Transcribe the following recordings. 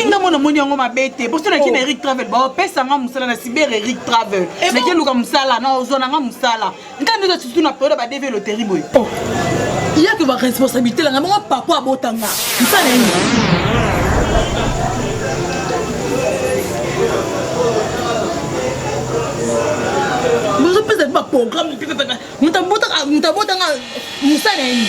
epi nga mona moni yango mabe te poso naki oh. na eric travel baopesa nga mosala na cyber eric travel eh naki eluka mosala na ozwa na nga mosala ntango nde eza surtout na periode ya badeve loterie boye oh. yake baresponsabilité langa bango papa abotanga mosala nini bozopesa ti baprogramme moto abotanga mosala nini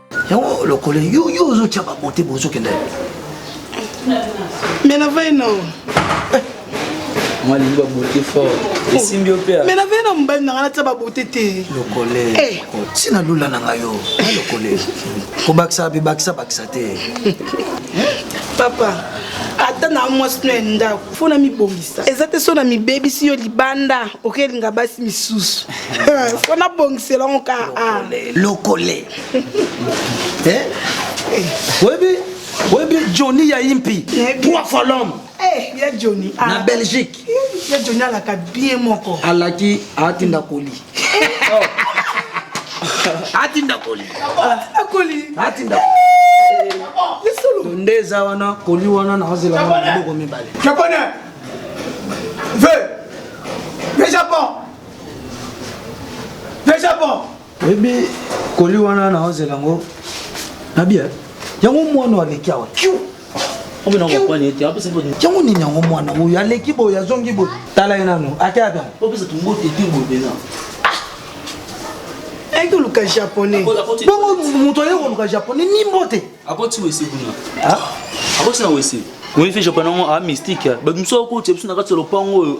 yango lokole yo yo ozotya babote bozokenda mais na vai no eh. mwa lingi babote fort oh. esimbi yo mpe mais na vai na mobali na ngai natya babote te lokole eh. si na lula na ngai yo na lokole kobakisa bibakisa bakisa te papa ata na mwasi no ya ndako fo na mibongisa eza te so na mibebisi yo libanda okelinga basi misusu fo na bongisela ngo ka a lokole eh? oyebi oyebi johnny ya impi poids folome eh, ya johnny na belgique ya johnny alaka bien moko alaki atinda koli atinda koli atinda koli atinda lisolo nde eza wana koli wana nazela maboko mibale japonais ve ve japon ve japon oyebi koli wana nazela yango nabia yango mwana aleki awa kiu yango nini yango mwana oyo aleki boye azongi boye tala ye nano akeata ayaki koluka japonais bongo moto ayaki koluka japonais ni mbote oyebi fe japonais yango a mystique bato mosusu akotia biso na kati ya lopango oyo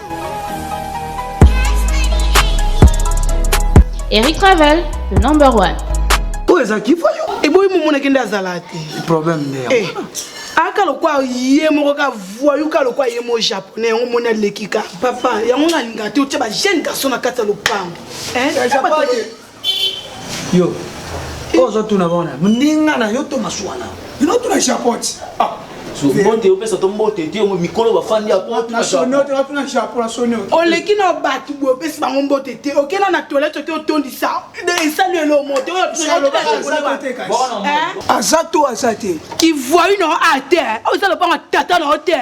Eric Travel, le number one. Où est-ce qu'il faut Et bon, il m'a dit azala te. Le problème n'est pas. Eh, aka lokwa ye moko ka voyou ka lokwa ye mo japonais yango moni aleki ka papa yango nalinga te otya bajeune garçon na kati ya lopango Yo. Ozo tuna bona. Mninga na yo to masuana. Ino tuna japot. Ah. So mbote opesa to mbote te mikolo bafandi ya poto na japot. Na sonote na japot na sonote. Oleki na batu bo pesa bango mbote te. Okena na toilette te otondisa. Esali elo moto oyo tuna ba ko. Aza to aza te. Ki voyou na ate. Oza lopanga tata na ote.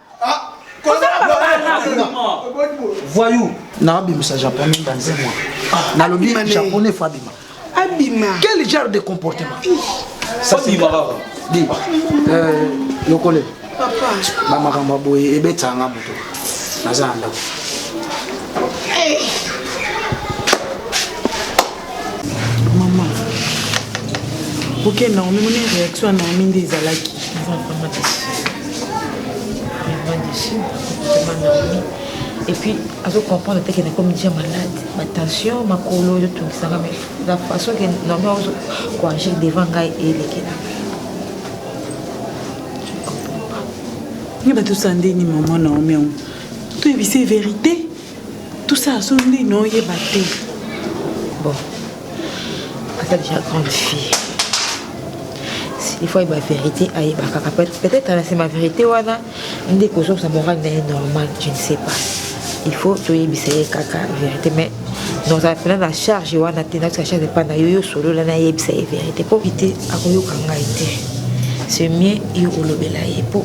voyou nabimisa japonais mbanze mwa ah, nalobi japonais fo abima abima quel genre de comportement abima kaka di euh, lokole bamakambo boye ebetaka nga moto naza na ndako mama oke naomi moni réaction ya naomi nde ezalaki epuis azocomprendre te ke nakomi dia malade batension makolo ezotungisaka me la façon ke naomi azokoagir devant ngai elekela ngai bato sandeni mama naomi yango toyebise verité Tout ça, son nde non yeba te. Bon. Aza déjà grande fille. Il faut yeba vérité ayeba kaka peut-être na sema vérité wana nde kozongisa morale na ye normal je ne sais pas il faut toyebisa ye kaka vérité mais nozala mpena na charge wana te natika charge epai na yo yo solola nayebisa ye vérité mpo te akoyoka ngai te c'est mieux yo olobela ye mpo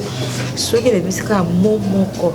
soki elebisi kaka mo moko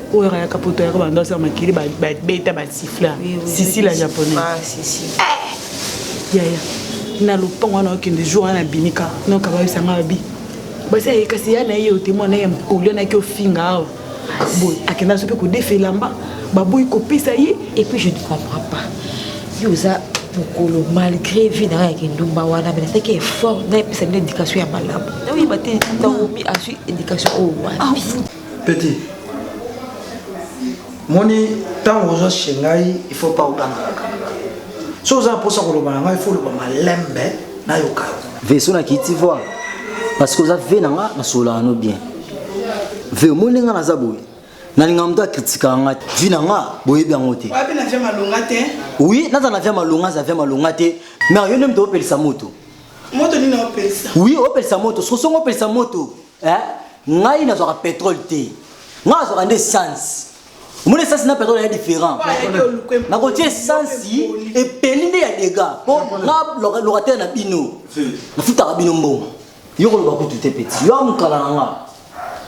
oyo ayaka poto ayaka bando asala makili babeta basifla sisi la japonais ah, eh! yaya na lopango wana okende jour wana nabimika noka bayebisanga babi basi aye kasi ya na ye ote mwana ye olio naki ofinga awa boye akenda so mpe kodefa elamba baboyi kopesa ye et puis je ne comprends pas yo oza mokolo malgré vie na ngai ya kindumba wana me nasalaki effort nayepesa bino éducation ya malamu naoyeba te ntango mi azwi éducation oyo wapi petit moni ntango oza chez ngai il faut pas ogangaka kanga so oza na mposa koloba na ngai faut oloba malembe nayoka yo veso na kiti voi parce que oza ve na nga nasololaka no bien ve omoni ndenge naza boye nalinga moto akritikaka nga te vi na nga boyebi yango te oui naza na via malonga aza via malonga te mais yo nde moto opelisa moto oui opelisa moto sosongo opelisa moto eh ngai nazwaka petrole te ngai nazwaka nde essence omoni essence na petrole ya différent nakotia essence epeli nde ya dega mpo nga locataire na bino nafutaka bino mbongo yo koloba kutu te peti yo amokala na nga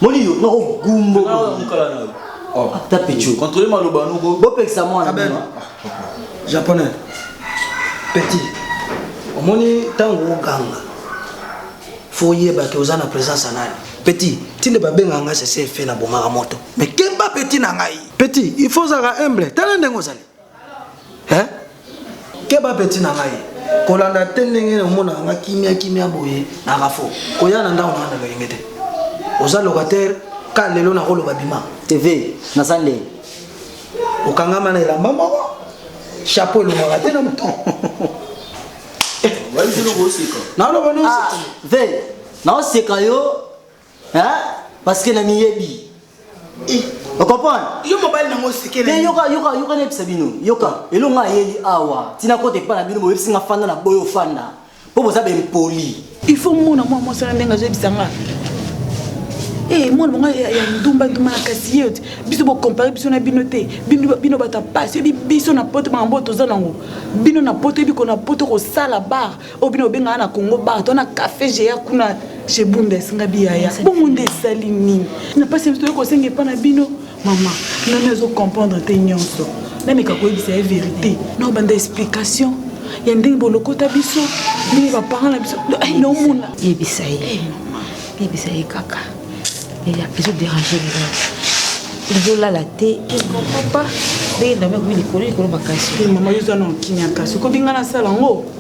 moni yo nako gumbo oh. ata pecho controle maloba noko bopekisa mwana japonais petit omoni ntango oganga faut yeba ke oza na presence ya nani petit ti nde babengaka ngai sese efe na bomaka moto me kemba petit na ngai petit il faut ozalaka humble tala ndenge ozali eh? keba petit na ngai kolanda te ndenge na omonaka nga kimia kimia boye na rafo koya na ndako na nga na loyenge te oza locataire ka lelo nakoloba bima tv naza ndenge okangama na elamba moko chapeau elongaka te na moto naloba nonse naoseka yo parce que na miyebi eh. okomprendre yo mobali nango osekele yoka yoka yoka nayebisa bino yoka elongo ayeli awa ntina kota epai na bino boyebisi nga fanda na boyo fanda mpo boza bempoli il faut mona mwa mwasi wana ndenge azoyebisa nga e mwana monga ya ndumba ndumba na kasi ye biso bokompare biso na bino te bino bato ya pasi oyebi biso na poto makambo oyo toza nango bino na poto oyebi kona poto kosala bar oyo bino obengaka na congo bar to na café géa kuna chez bundes nga biyaya bongo nde esali nini na pasi biso toyei kosenga epa na bino Maman, nani azo comprendre te nyonso. Nameka koyebisa ye verite. Na obanda explication ya ndenge bolokota biso, ndenge ba parents na biso. Eh, na omona. Yebisa ye. Eh, yebisa ye kaka. Ezo déranger le ezolala te ekompa ndenge ndambe ekomi likolo likolo makasi mama yo eza na kimia kasi okobi ngai nasala yango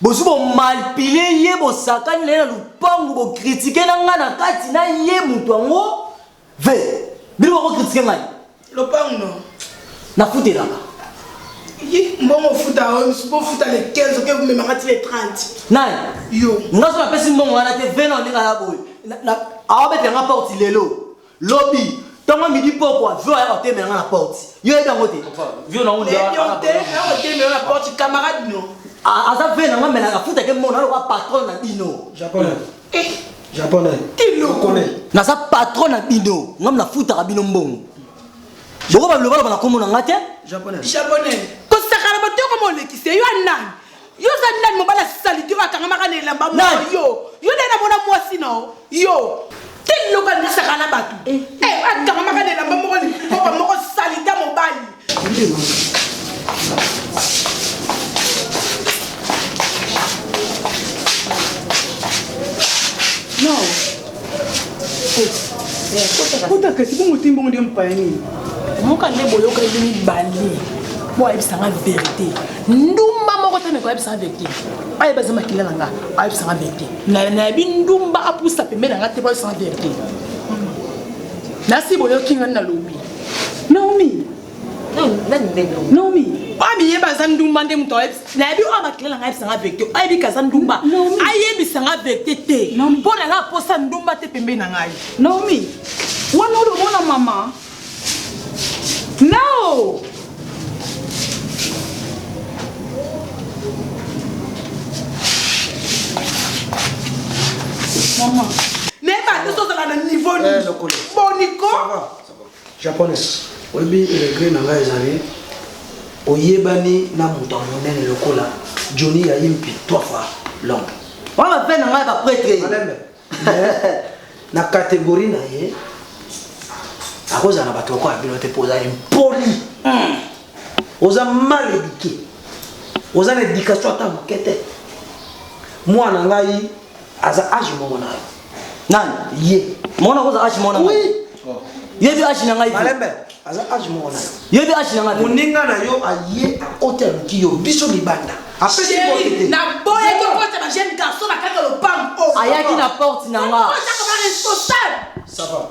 Bozui bo malpile ye bosakani naye na lupangu bo critique na nga na kati na ye mutu yango ve bino bako critique ngai lopangu no na futelaka mbongo ofuta bofuta le 15 oke komemaka ti le 30 nani yo ngaso napesi mbongo wana te vena ondenge aya boye awabetela nga porte lelo Lobi, tongo midi pokwa, Vio aya kotemela nga na porte. Yo oyebi yango te? Vio na unda. Oyebi yango te? Aya kotemela nga na porte, camarade no. Aza vin na nga mais afutake mona lokola patron na bino. Japonais. Eh. Japonais. Ti loko. Naza patron na bino. Ngam na futaka bino mbongo. Boko ba loba loba na kombo na nga te? Japonais. Japonais. Kosakana botoko molekise yo anani? yo ozali nani mobali ya salite oyo akangamaka na elamba moko Nani? yo yo nde namona mwasi na yo yo te loko andisaka na bato Eh. Eh, akangamaka na elamba moko likoba moko salite ya mobali non kota kasi bongo te mbongo nde mpaya nini moka nde boyoka ebi mibale mpo ayebisa nga verité ndumba moko te meko ayebisa nga verité ayeba eza makila na nga ayebisa nga verité nayebi ndumba apusa pembe na nga te po ayebisa nga verité nasi boyoki nga nalobi naomi Naomi bami yeba aza ndumba nde moto nayebi oyo bakila nanga yebisa nga vecte ayebi kaza ndumba ayebisa nga vecte te mpo na nga aposa ndumba te pembeni na ngai Naomi wana oyo omona mama nao mama nayeba te tozala na niveau nini boniko Japonais olobi regret na ngai ezali oyebani na moto ya monene lokola Johnny ya Impi trois fois l'homme. Wana pe na ngai ba pretre. Malembe. na catégorie na ye akozala na bato lokola bino te mpo oza impoli hmm. oza mal éduqué oza na éducation ata moke te mwana ngai aza age moko na yo nani ye mona koza age mona oui ye bi age na ngai malembe aza age moko na yo ye bi age na ngai moninga na yo aye akote aluki yo biso libanda apesi bote te na boye ko kota ba jeune garçon na kaka lopango ayaki na porte na nga responsable ça va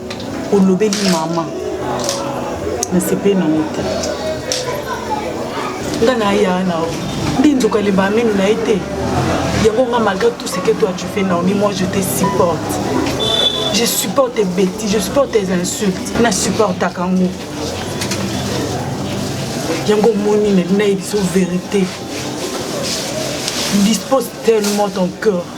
olobeli mama nasepeli nango te nga naya na nde nzoka elemba minu na ye te yango nga malgré tout ce que toi tu fais naomi moi je te supporte je supporte tes bêtises je supporte tes insultes na supportaka yango yango omoni nayebi so vérité dispose tellement ton cœur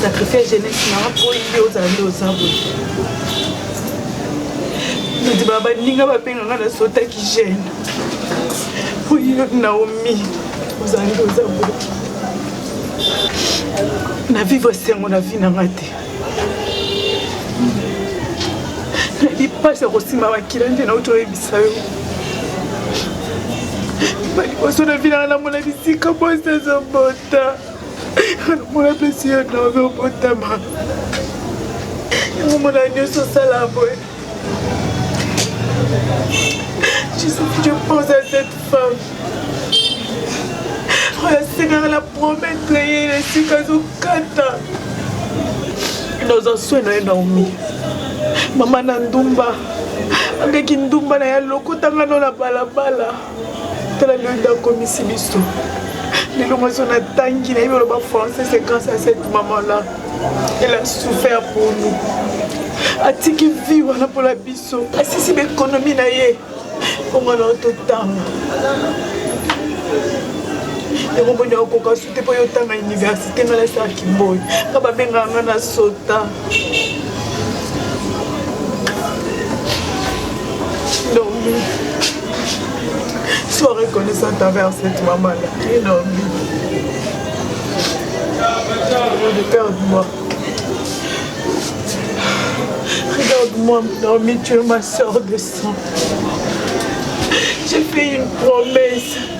sacrifice jeunesse nanga mpo oyinde ozala nde oza boye nandima baninga babenga nga nasotaki jeune oyo naomi ozala nde oza boye na vivre esengo na vie na ngai te nayebi mpasi ya kosimba makila nde nauti oyebisa yo baliboso na vi nanga namona bisika mwasi azobota namona mpesi yo naozobotama yango mona nyonso osala boye Je pense à cette femme. Frère Seigneur, la promesse que yeye esika azokata naza soin na ye naomi mama na ndumba andeki ndumba na ye alokotanga no na balabala tala lelo nde akomisi biso lelo mwazo natangi nayebi oloba français c'est grâce à cette maman là elle a souffert pour nous atiki vie wana mpona biso asisi baekonomi na ye mpo mwana totanga yango moni akoka te mpo yo otanga université nga nasala kimboyi nga babengaka nga na sota normi sois reconnaissante envers cette maman là et normi regarde-moi regarde-moi normi tu es ma soeur de sang j'ai fait une promesse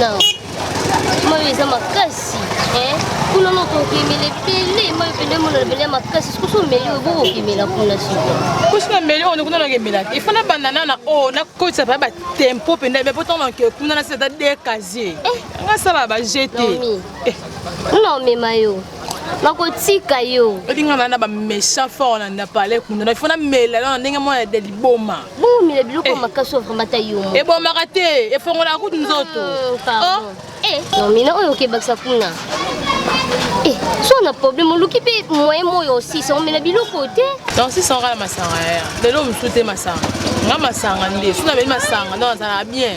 Non. Moi, ils ont ma casse. Hein? Kuna no kokimele pele moi pele mo na pele makasi kusu meli obo kokimela kuna siko. Kusu na meli on kuna na kemela. Il faut na banana na o na kotsa ba tempo pende mais pourtant on ke kuna na c'est à dire casier. Eh, nga sala ba jeter. Eh. Non mais mayo. nakotika yo olinga na na baméchant fort na ndapale kuna na fona mela na ndenge mwana ya liboma bomomela biloko ya eh. makasi oyo vraimen ata yo moko ebomaka te efongolaka kutu nzoto ah, oh. eh. nomina oyo okebakisa kuna eh, so na problème oluki mpe moyen moyo osisa omela biloko te donc sisa okala masanga yaya lelo mosusu te masanga nga masanga nde so nameli masanga donc azalaka bien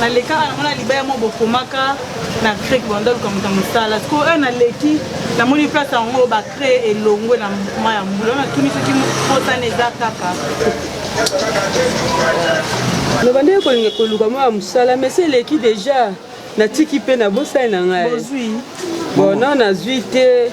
na lekaka nango na libaya mo bokomaka na crek bandoluka moto ya mosala sikoyo oyo naleki namoni place yango bacree elongwe na ma ya mbula oyo natuni soki mosana eza kaka loba ndenge kolinga koluka mwa ya mosala mesi eleki deja natiki mpe nabosani na ngai bono nazwi te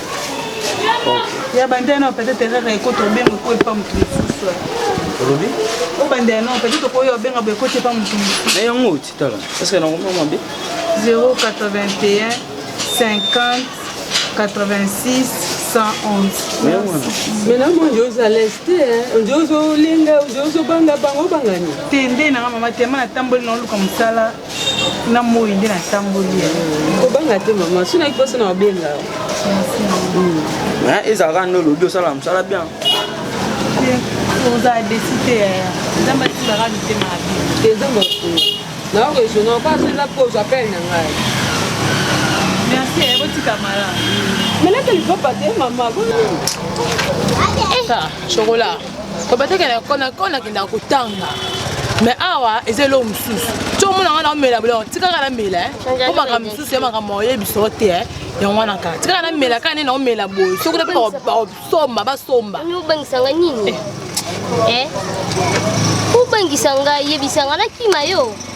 ya banda yanao peut-être erreur ekota obenga ekoyi mpa moto mosusu olobi obanda yanao peut-être okoyi obenga boye ekoti mpa moto mosusu na yango otitala eske nakomia mabe 081 50 86 maintenant nde oza lese te nde ozolenga nde ozobanga bango obangani te nde nanga mama te ma natamboli naoluka mosala na moi nde natamboli kobanga te mama soki naki mposa na babenga hmm. ezalaka nde olobi osala mosala bien oza desi te nzambe asilaka mitema te nzambe nao regional mpo azoza mpo ozwa pele na ngai merci eh, botika mala melaka lipapa te mama chokola Obataka na kona kona kenda kotanga. Mais awa eza eloko mosusu. Tso mona wana omela bolo tikaka na mela. Ko maka mosusu ya maka moye biso te. Eh. Yango wana kaka tikaka na mela kaka nena omela boye. Soki na ba somba ba somba. Ni obangisa nga nini? Eh. eh? Obangisa nga yebisa nga na kima yo.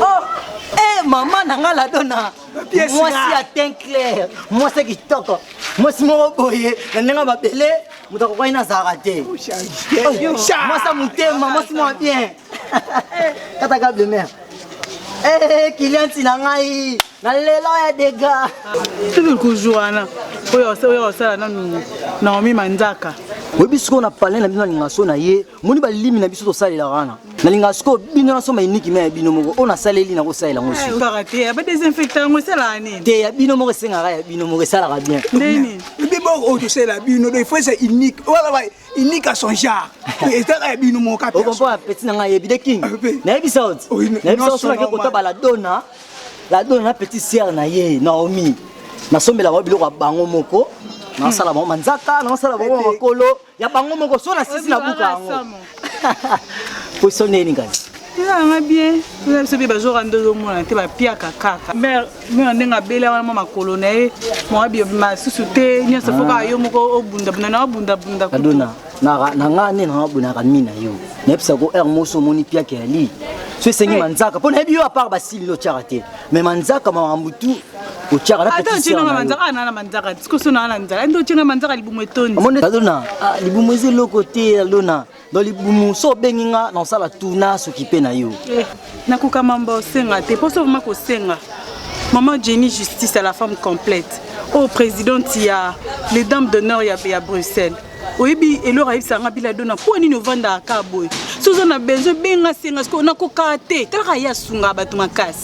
Oh, eh maman na nga la dona. Mwasi ya teint clair, mwasi kitoko. Mwasi moko boye na ndenge mabele moto akokwani na zara te. Mwasi ya motema, mwasi mwa bien. Kata ka de mer. Eh, kilianti na ngai na lelo ya dega soki kujour wana oyo osala nanu naomi manzaka oyebi sikoyo na palin na bino alinga so na ye moni balimi na biso tosalela wana nalingaka sikoyo bino nasomba iniki me ya bino moko oyo nasaleli nakosalela yango te ya bino moko esengaka ya bino moko esalaka bien biboko oyo tosalela bino do ifo eza iniki iniki a son genre ezalaka ya bino moko okompoa peti na ngai yebi de king nayebisa oti nayebisa osolaki kota baladona ladona na petit sere na ye naomi nasombelaka biloko ya bango moko nasala bango manzaka nasala bango makolo ya bango moko so na sisi na buka yango poso neni kasi ezalanga bien toza biso mpe bazora nde ozomona te bapiaka kaka mare mare ndenge abela wana mwa makolo na ye mwa masusu te nyonso fo kaka yo moko obundabunda na obundabunda adona na ngai nde naabonaka mi na yo nayebisa ko heure moso omoni piaka ya lii so esengi manzaka mpo nayebi yo apart basili lotyaka te mais manzaka makambo tu otyaka na ata otyena nga manzaka ana na manzaka tikoso na ana nzala nde otyena manzaka libumu etondi omoni alona ah, libumu eza eloko te alona don libumu so obengi nga na osala tu na soki mpe na yo eh, nakoka mamba osenga te mpo so vraimen kosenga maman jenny justice à la femme complète oyo oh, présidente ya les dames d'honneur ya, ya bruxelles oyebi eloko ayebisaka nga bila dona mpo nini ovandaka ka boye soki oza na besoin benga senga sikoyo nakokaa te talaka ye asunga bato makasi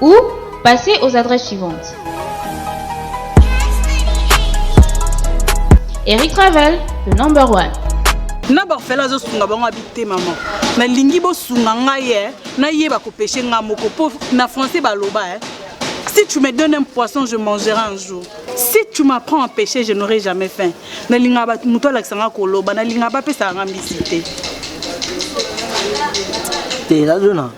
Ou passez aux adresses suivantes. Eric Travel, le number one. na barfela azosunga bango abi te mama nalingi bosunga ngai ye eh. nayeba kopeshe ngai moko mpo na français baloba eh. si tu me donnes un poisson je mangerai un jour si tu m'apprends à pêcher je n'aurai jamais faim nalingaka moto alakisa ngai koloba nalingaka bapesaka ngai mbisi te te nazona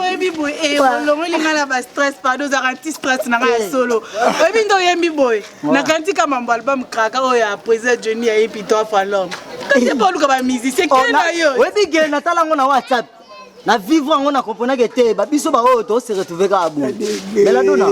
oyebi boye eh, olongoli ngai na bastress pardon ozaka anti stress na ngai ya eh. solo oyebi nde oyembi boye nakanisi ka mambo album kraka oyo ya président johnny ya epito afalom kasi mpo oluka bamusicien kena yo oyebi gele natala yango na whatsapp na vivre yango na comprenaki te ba biso baoyo to se retrouve kaka boye beladona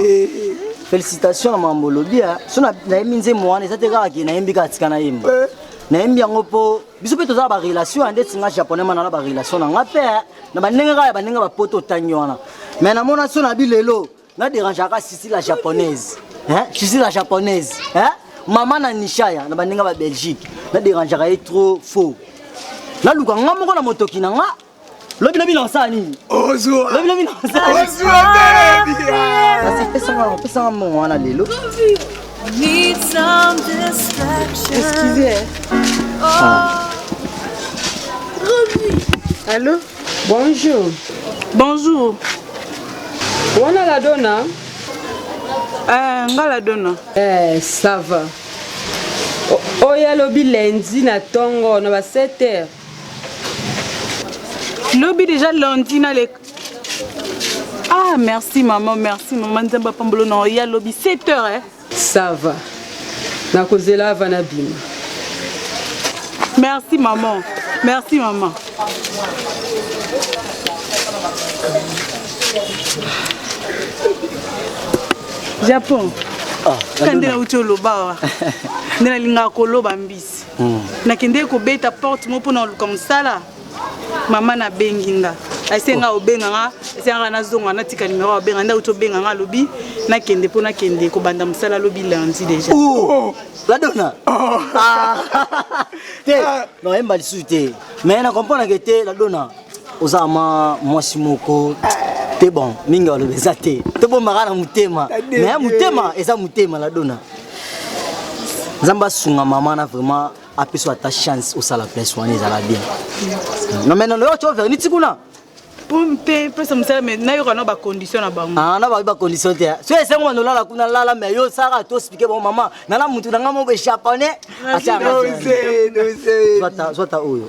félicitation na mambo olobi ah. so nayembi nzembo wana eza te kaka ke nayembi kaka tika nayemba eh. nayembi yango mpo biso mpe toza na barelation ya ndeti nga japonais mana na barelation na nga mpe eh. na bandenge kaka ya bandenge bapoto otangi wana mai namona so na bi lelo Na derangeaka sisi la japonaise. Hein? Sisi la japonaise. Hein? Maman na Nishaya na baninga ba Belgique. Na derangeaka ye trop faux. Na luka nga moko na motoki na nga. Lobi lobi na osala nini? Ozwa. Lobi lobi na osala. Ozwa baby. Kasi pesa nga pesa nga mbongo wana lelo. Need some distraction. Excusez. Oh. Allô Bonjour. Bonjour. Wana la dona? Eh, nga la dona. Eh, ça va. Oyo alobi lundi na tongo na ba 7 heures. Lobi déjà lundi na le Ah, merci maman, merci maman Nzamba Pambolo na oya lobi 7 heures eh. Ça va. Nakozela ava na bima. Merci maman. Merci maman. Japon. Ah, kande nauti oloba awa nde nalingaka koloba mbisi hmm. nakendeki kobeta porte moko mpo na koluka mosala mama nabengi nga aise nga obenga nga aise nga nazonga natika numero abenga nda uti obenga nga alobi nakende mpo nakende kobanda mosala alobi lundi déjà oh, ladona oh. ah. te ah. noyemba lisusu te mais na comprendre ke te ladona oza ma mwasi moko te bon mingi alobi eza te tobombaka na motema mais motema eza motema ladona nzambe asunga mama na vraiment apeso ata chance osala place wana ezala bien no mais nono yoco verni ti kuna te pesa mosala me nayoka na bacondition na bango ah, na babi bacondition te so esengo bana olala kuna lala me yo saka to explike bango mama nana motu na ngai moko echaponne atyazwata oyo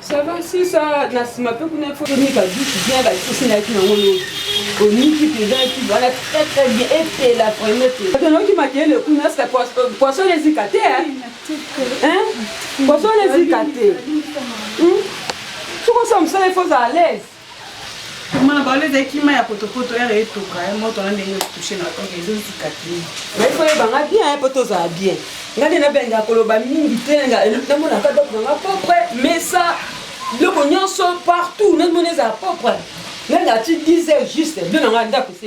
Ça va si ça na sima pe kuna faut ni ba douche bien ba kisi na kina ngolo. Oniki peza ki bana très très bien et c'est la première que. Parce que ma kele kuna est-ce que poisson poisson les ikate hein? Hein? Poisson les ikate. Hum? Soko ça me ça il faut à l'aise. Kima na bango ezali kima ya potopoto ere etoka ye moto wana ndenge touche na oke ezozika te ngai koyebanga bien ye mpo tozala bien ngai nde nabenga koloba mingi te namonaka dok nanga propre mesa biloko nyonso partout namoni ezala propre ngai ngati 10 heures juste bino nanga ndako se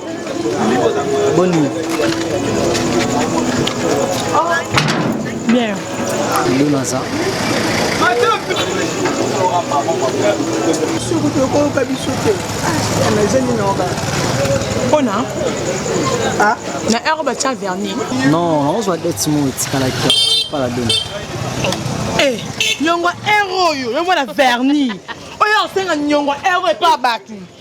Boni. Bien. Luna ça. soki tokoyoka biso te na ezali naoka mpona na heure batya verni non naozwa date mo etikalaki pala dona eh, nyongo heure oyo yomona verni oyo asenga nyongo heure epa bato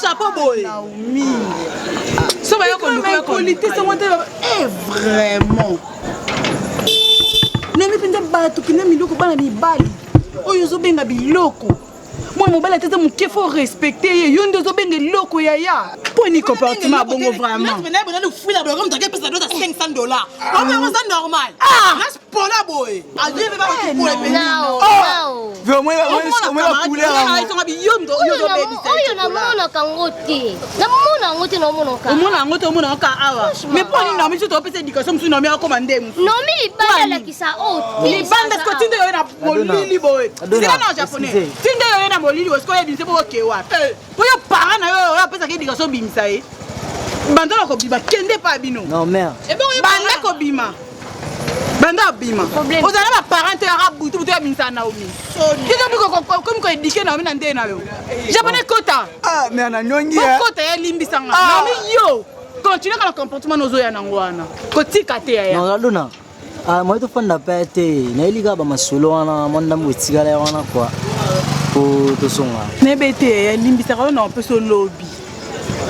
chapo boye so baya kolukakolite sango te eh, vraiment nani mpenza bato kina miloko bana mibali oyo ozobenga biloko mwana mobali atata moke fo respecte ye yo nde ozobenga eloko yaya mpo ni comportement abongo vraiment ah. ah. pona boye oyo namonaka yango te namona yango te naomonaomona yango te omona kaka awa mais mpo nini namiso topesa éducation mosusu nomi akoma nde mosunomi libanda alakisa oyo oh, libanda siko tinde yoye na molili boye sika na japonais tinde yoye na molili boye sikoyo ebimisa mpo oke wapi eh. mpo yo para na yo oyo apesaka éducation obimisa ye banda na kobima kende pa bino banda kobima banda abima ozala na baparent te yaka butu butu yabimisa naomi kikomi koedike naomi na ndeye na yo japonais kota ah, okota yalimbisa nga ah. naomi yo continue kaka na comportement nozoya nango wana kotika te yayaluna ah, moye tofanda pe te nayeli kaka bamasolo wana mwa ndambo etikala ya wana kua po tosonga nayebe te yalimbisaka yo na opesa olobi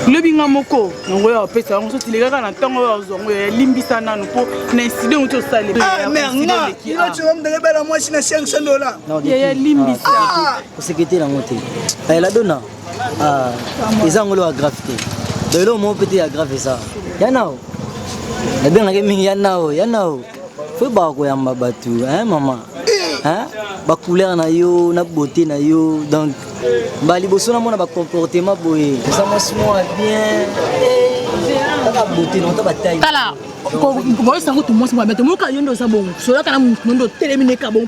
lobi nga moko yango ya opesa yango soki leka kaka na ntango oyo azwa yango yalimbisa nanu mpo na inside yango tosale ah, merngailocoomdelebela ah. mwasi na 500 dola yalimbisa kosekete ah, yango te eladona eza yango loya grave te donc eloko moko mpe te ya grave eza yanao nabengaki mingi yanao yanao Faut ba koyamba batu hein maman hein ba couleur na yo na beauté na yo donc ba liboso na mona ba comportement boye ça moi moi bien kaka beauté non ta ba taille tala boyesa yango tomosi mabe tomoka yo nde oza bongo solaka na moto nde otelemi neka bongo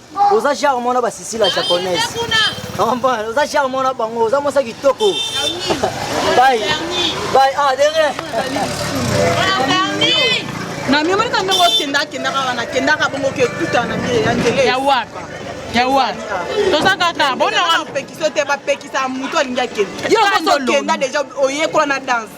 oza genre mwana basisi la japonaise ompane oza genre mwana bango oza mwasa kitoko bai bai ah de rien na mio malika ndenge okenda akendaka wana akendaka bongo ke tuta na mie ya ndele ya waka ya wana toza kaka bonapekisa te bapekisa moto alingi akenda yo okenda deja oyekola na danse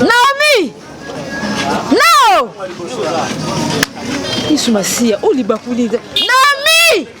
Naomi! Nao! Yesu Masiya, o libakuli. Naomi!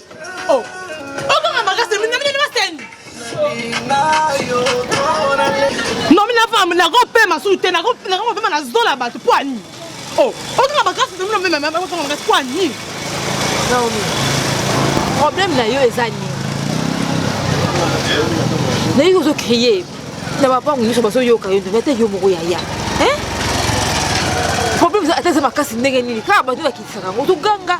Oh, okanga makasi mina mina baseni. No mina femme na ko pema sous te na ko na ko pema na zola bato poani. Oh, okanga makasi mina mina mama ko kanga makasi poani. Naomi. Problème na yo eza nini? Nayo ozo crier. Na papa ngiso baso yoka yo, mais te yo moko ya ya. Hein? problème eza ata eza makasi ndenge nini kaka bato bakitisaka yango toganga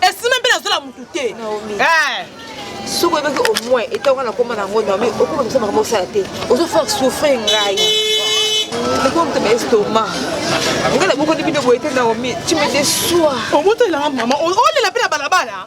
esime mpe nazola motu te eh. soki oyebaki au moins etanga na koma na yango naomi okoma misa makambo osala te ozo faire souffrir ngai lokola moto na estoma ngai nabokoni bino boye te naomi tu me desoi omoto elanga mama olela mpe na balabala